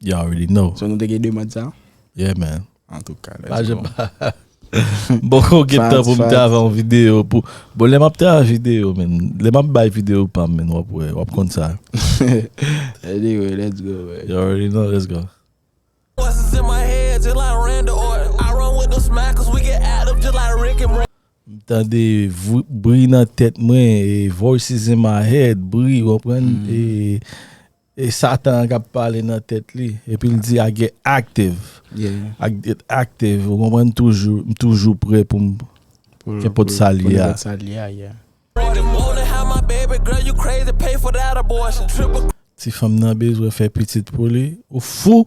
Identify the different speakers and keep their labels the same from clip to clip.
Speaker 1: You already know.
Speaker 2: So nou te gen demand sa?
Speaker 1: Yeah man.
Speaker 2: Antouka let's go. Pa
Speaker 1: janm pa.
Speaker 2: Mpoko gen tan pou m travay yon video pou Bon lè map travay video men Lè map bay video pam men wap wè wap konn sa. Anyway
Speaker 1: let's go man. You already know let's go.
Speaker 3: M tande
Speaker 2: bri nan tèt mwen voices in my head bri ou konprann e. E satan an kap pale nan tèt li epi l di a get active a
Speaker 1: get
Speaker 2: active ou konprann toujou m toujou prè poum kenpòt sa li a ti fanm nan bezwen fè pitit pou li ou fou.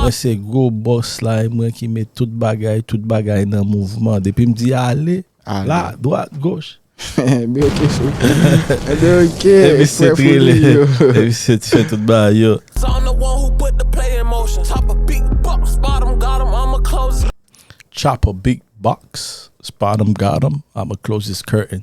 Speaker 2: Mwen se gwo boss la e mwen ki met tout bagay, tout bagay nan mouvman. Depi m di ale, la, dwat, goch.
Speaker 1: Enben ok frè. Enben ok
Speaker 2: frè founi yo. E misye t fè tout bagay yo. Chopper big box, spot em got em, I'ma close this curtain.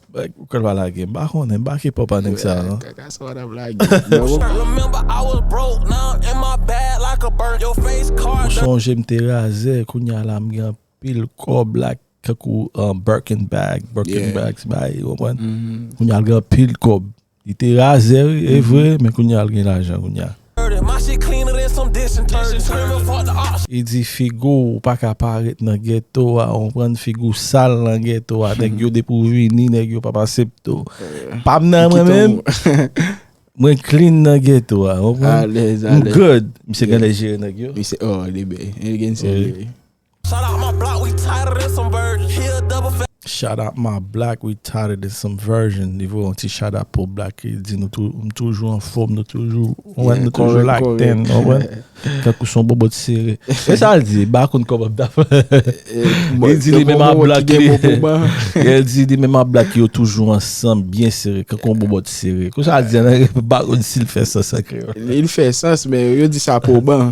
Speaker 2: Bagay pou kal pa
Speaker 1: lage.
Speaker 2: M pa konnen. M pa k ipòp a nèg sa yo non.
Speaker 1: Kaka
Speaker 3: sa wap lage. Ou sonje m te razè
Speaker 2: kounya la m gen anpil kòb la tankou Birkin bag, Birkin bags bay ou konprann. Kounya m gen anpil kòb. Li te razè wi e vre men kounye a li gen lajan kounye a.
Speaker 3: Li di figu w
Speaker 2: pa ka pa ret nan ghetto a ou konprann figu w sal nan ghetto a nèg yo depi w vini nèg yo pap asepte w pam nan mwen menm mwen clean nan ghetto a ou konprann m
Speaker 1: good misye
Speaker 2: genlè jere nèg yo. Misye oh li bèy
Speaker 1: li gen sèl li wi. Shout out my
Speaker 3: block we tighter than some virgin he a double fat. Shout out my block
Speaker 2: we tighter than some virgin li voye yon ti shout out pou black li di nou tou m toujou anfom nou toujou wè nou toujou lakten ou wè tankou son bobot sere e sa l di ba konn kòman m ta fè li di li menm a black li e l di li menm a black yo toujou ansanm byen sere tankou yon bobot sere kou sa l di an anglè m pa konn si l fè sans an kreyòl li fè sans
Speaker 1: men yo di sa pou ban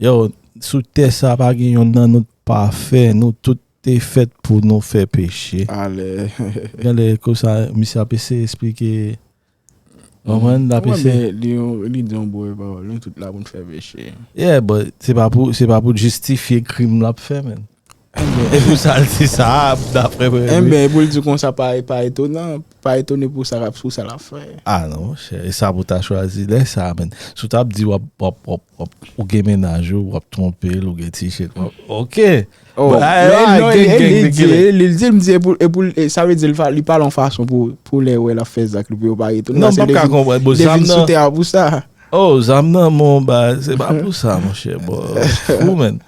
Speaker 3: Yow sou tè
Speaker 2: sa pa gen yonn nan nou t pafè nou tout te fèt pou nou fè peche
Speaker 1: gen lè konsa
Speaker 2: misye ap eseye esplike konprann lap eseye li di yon boure
Speaker 1: pawòl nou tout la pou nou fè peche yeah
Speaker 2: but se pa pou
Speaker 1: l
Speaker 2: jistifye krim lap
Speaker 1: fè
Speaker 2: menn Enben, e pou sa l di sa a, dapre premye minis? Enben, e pou l di konsa
Speaker 1: pa etonan, pa etone pou sa l ap fè. A non monchè, e
Speaker 2: sa pou w ta chwazi lè sa a menn? Si w ta ap di w ap, ou gen mennaj ou, w ap twonpe l, ou gen ti jèn, w ap, ok. O,
Speaker 1: e li di, m di e pou l, sa vle di li pale yon fason pou lè wè l ap fè zak li pou yo pa etone. Non, m pa p ka konprann, bon zam
Speaker 2: nan. Li vin sou tè a pou sa.
Speaker 1: O, zam nan,
Speaker 2: bon, se pa pou sa monchè, bon, fou menn.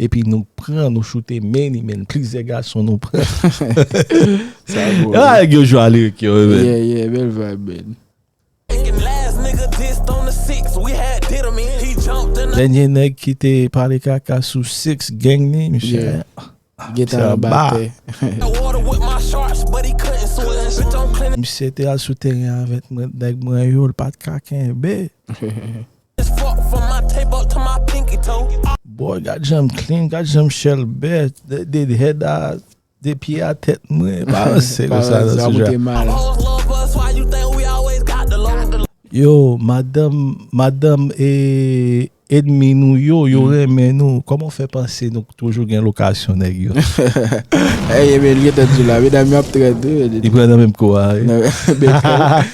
Speaker 2: Epi nou pran nou choute many men plizyè gason nou pran. Sa
Speaker 1: gou. Yo nèg yo jwe a lirik
Speaker 2: yo wi men. Yeah yeah bèl vibe
Speaker 1: men.
Speaker 2: Dènye nèg ki te pale kaka sou six gang ni misye. Yeah. Li gen talan
Speaker 1: batè.
Speaker 2: Misye te al sou teren avèk nèg mwen yo li pat ka kenbe. Boy gad janm clean gad janm chèlbè de head a de pye a tèt mwen pa ranse konsa nan sou jè yo madanm madanm e edmi nou yo yo renmen nou kòman w fè panse nou toujou gen lokasyon nèg yo
Speaker 1: li pran nan menm kou a
Speaker 2: wi.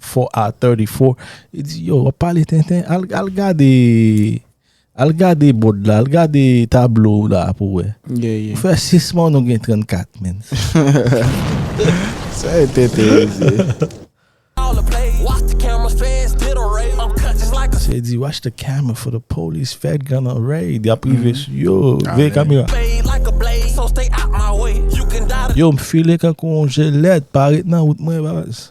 Speaker 2: 4 hour 34 li di yo wap pale tenten al al gade al gade bòd la al gade tablo ou la pou wè ou fè 6
Speaker 1: mwa ou nou
Speaker 2: gen 34 menn
Speaker 1: sa e tenten yo di
Speaker 2: se li di watch the camera for the police fed gun on raid yap rive sou yo veye kamera yo m file kankou yon jelèt pa ret nan wout mwen baz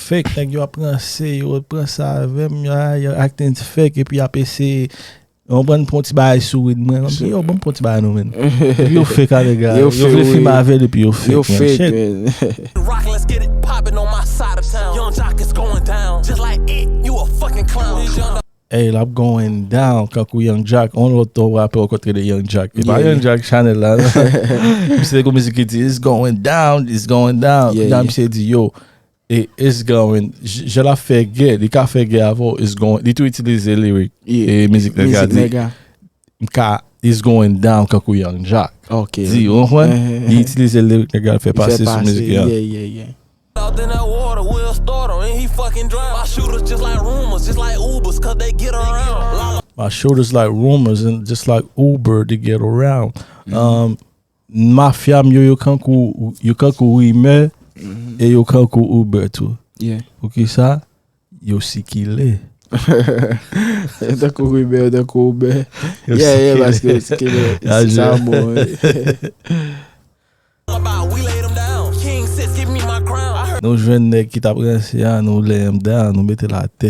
Speaker 2: Fake nèg yo ap ranse yo ret pran sa avèm yo ah yo acting fake epi yap eseye ou konprann pran yon ti bagay sou Wid mwen map di yo banm pran yon ti bagay nou menn epi yo fake ah nèg la yo vle filme avèl epi yo fake menn shit. Ey lap going down kankou Young Jack on lòt to rapè ou kontre de Young Jack e pa Young Jack chanèl la non misye te gon mizik ki di it's going down it's going down epi la misye di yo E it's going jan lap fè gè li ka fè gè avèw it's going li tou itilize lirik e mizik nèg a di mka it's going down kankou Young Joc di ou konprann li itilize lirik nèg la l fè pase sou mizik li an.
Speaker 3: My shoulders like
Speaker 2: rumors and just like Uber to get around Mafya m yo yo kankou rimè e yo kankou Uber tou. Poukisa? Yo sikile. Yo
Speaker 1: tankou rimè, yo tankou Uber. Yo sikile. Sa a bon
Speaker 2: wi. Nou jwenn nèg ki t ap ranse a, nou lay m down, nou mete l atè.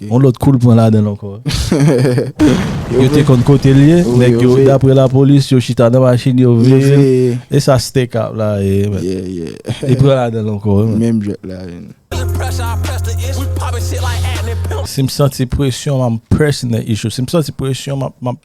Speaker 2: Yon
Speaker 1: lòt kou l
Speaker 2: pran ladan l ankò. Yo te konn kote l ye, nèg yo daprè lapolis yo chita nan machin yo veye l. E sa Stay kap la ye menm? Li pran ladan l
Speaker 1: ankò wi
Speaker 2: menm. Si m santi presyon m ap press nan issue. Si m santi presyon m ap.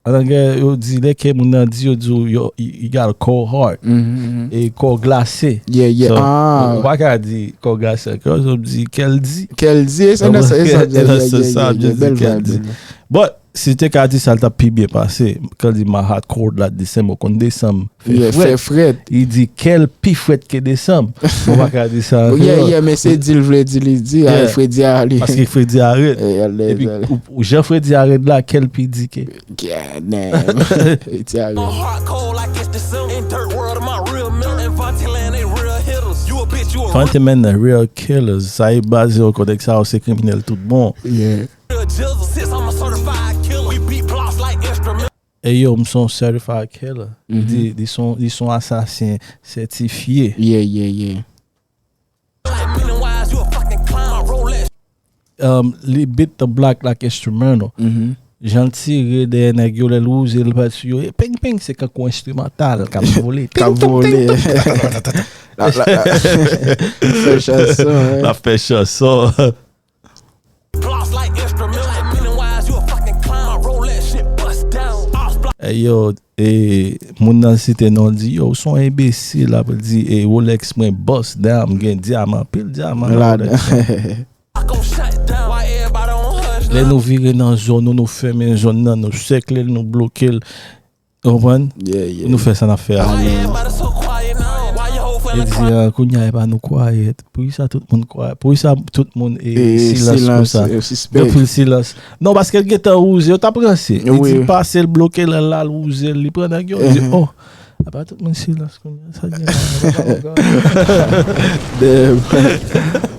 Speaker 2: An anglè yo di lè kè moun nan di yo di w you got a cold heart e kò w glase. Ou pa ka di kò w glase ank yo ap di kè l di. Kè l di e sa nan sans
Speaker 1: sa e nan sans sa ap di kè l di.
Speaker 2: Bon si te ka di sa l tap pi byen pase kan l di my heart cold like December konn desanm Fè frèt. Fè frèt.
Speaker 1: Li di kèl
Speaker 2: pi frèt ke desanm. Mwen pa ka di sa an kreyòl. Yè yè men se di l
Speaker 1: vle di li di a fredi a li. Paske fredi a rèd.
Speaker 2: Epi jan fredi a rèd la kèl pi di ke. God damn. Fredi a rèd. Fantom and the real killers. Sa e baz yo kote sa yo se kriminèl tout bon. Yeah. Ey yo m son certified killer li di li son asasen sètifye. Yeah yeah yeah. Li beat the block like instrumental. Jan l tire dèyè nèg yo lè l wouze l bat sou yo e peng peng se kankou instrumental k ap vole. K ap vole. L ap fè chanson. L ap fè chanson. Hey yo e moun nan site non l di yo ou son enbesil ap di e Rolex mwen bust down m gen dyaman pil dyaman nan Rolex mwen lè nou vire nan zòn nou nou fèmen zòn nan nou sèkle l nou bloke l. Ou konprann? Pou nou fè sa n ap fè a. Yo di, Kounye a, e pa nou kwayèt. Poukisa tout moun kwayèt? Poukisa tout moun silans konsa? Yo fè l silans. Non, paske l gen tan wouze. Yo t ap ranse. Li di l pase l, bloke l, l al wouze l. Li pran nèg yo. Yo di, O! E pa tout moun silans konsa. Sa gen la. Damn!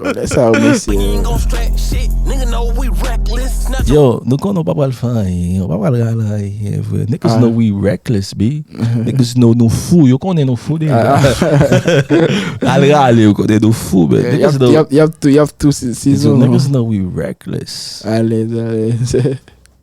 Speaker 1: Lè sa yo mesye
Speaker 2: yo. Yo nou konnen ou pa pral fè anyen, ou pa pral rale anyen vre. Niggas know we reckless B. Niggas know nou fou, yo konnen nou fou deja. Al rale yo konnen nou fou men. Niggas know. Yap tou, yap tou, yap
Speaker 1: tou, se zon. Niggas know we
Speaker 2: reckless. Alèz, alèz.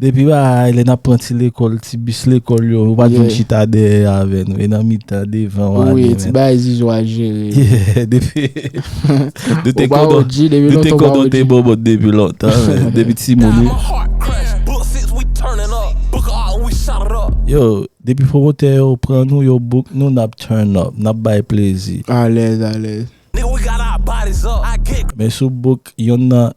Speaker 2: Depi ba a lè nap pran ti lekòl ti bis lekòl yo ou pat vin chita dèyè avè nou e nan mitan devan wap gen men. Ti bagay Zuzu
Speaker 1: a jere wi. Ou pa OG depi
Speaker 2: lontan ou pa OG. Nou te konnen w te bòbòt depi lontan men depi ti moun wi. Yo depi pwomotè yo pran nou yo book nou nap turn up nap bay plezi. Alèz alèz. Men sou book yonn nan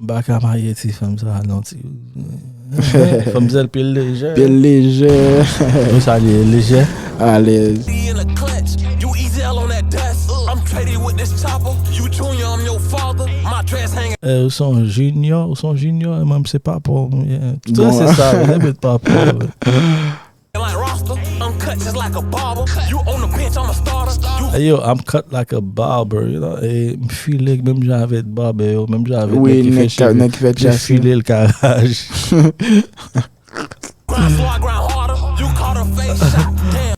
Speaker 3: M pa ka marye ti
Speaker 2: fanm sa non ti. Fanm zèl pye l lejè. Pye l lejè.
Speaker 1: Ou sa
Speaker 2: li ye lejè. Alèz.
Speaker 3: Eh ou son junior
Speaker 2: ou son junior e mwen m se papa w. Tout sa se sa yo. Yo met papa w.
Speaker 3: Eyo I'm cut
Speaker 2: like a barber M file menm jan avèk barbè yo menm jan avèk nèg ki fè cheve yo
Speaker 1: Mwen
Speaker 2: file
Speaker 1: l
Speaker 2: karaj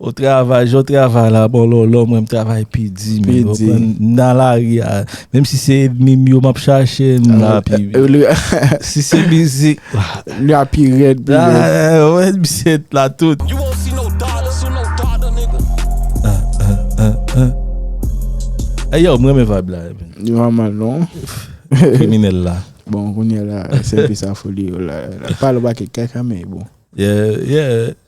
Speaker 3: Ou travay jan w
Speaker 2: travay la bon lòlò mwen m travay pi di menm M nan lari a menm si se edmi m yo m ap chache m nan Si se mizik Li a pi
Speaker 1: rèd pi rèd. Wè
Speaker 2: misye t la tout. Hey yo m renmen vibe la. Li pa mal non.
Speaker 1: Kriminèl
Speaker 2: la. Bon kounye la
Speaker 1: se pi sa foli yo la. Pale bak e kaka men bon. Yeah yeah.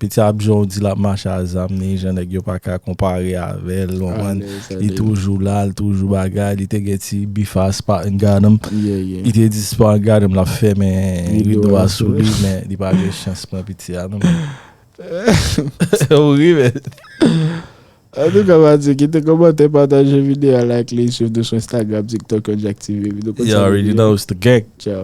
Speaker 2: Piti ap
Speaker 1: jan ou di
Speaker 2: lap mache a zam ni jan nèg yo paka konpare avèl ou konprann li toujou la li toujou bagay li te gen ti bif a Spartan Gadam li te di
Speaker 1: Spartan
Speaker 2: Gadam lap fèmen rido a sou li men li pa gen chans pran piti a non ou ri men
Speaker 1: Antouka Mathieu kite komantè pataje video a like
Speaker 2: li
Speaker 1: swiv nou sou
Speaker 2: Instagram
Speaker 1: TikTok
Speaker 2: yon jack
Speaker 1: TV
Speaker 2: You
Speaker 1: already
Speaker 2: know
Speaker 1: it's the gang.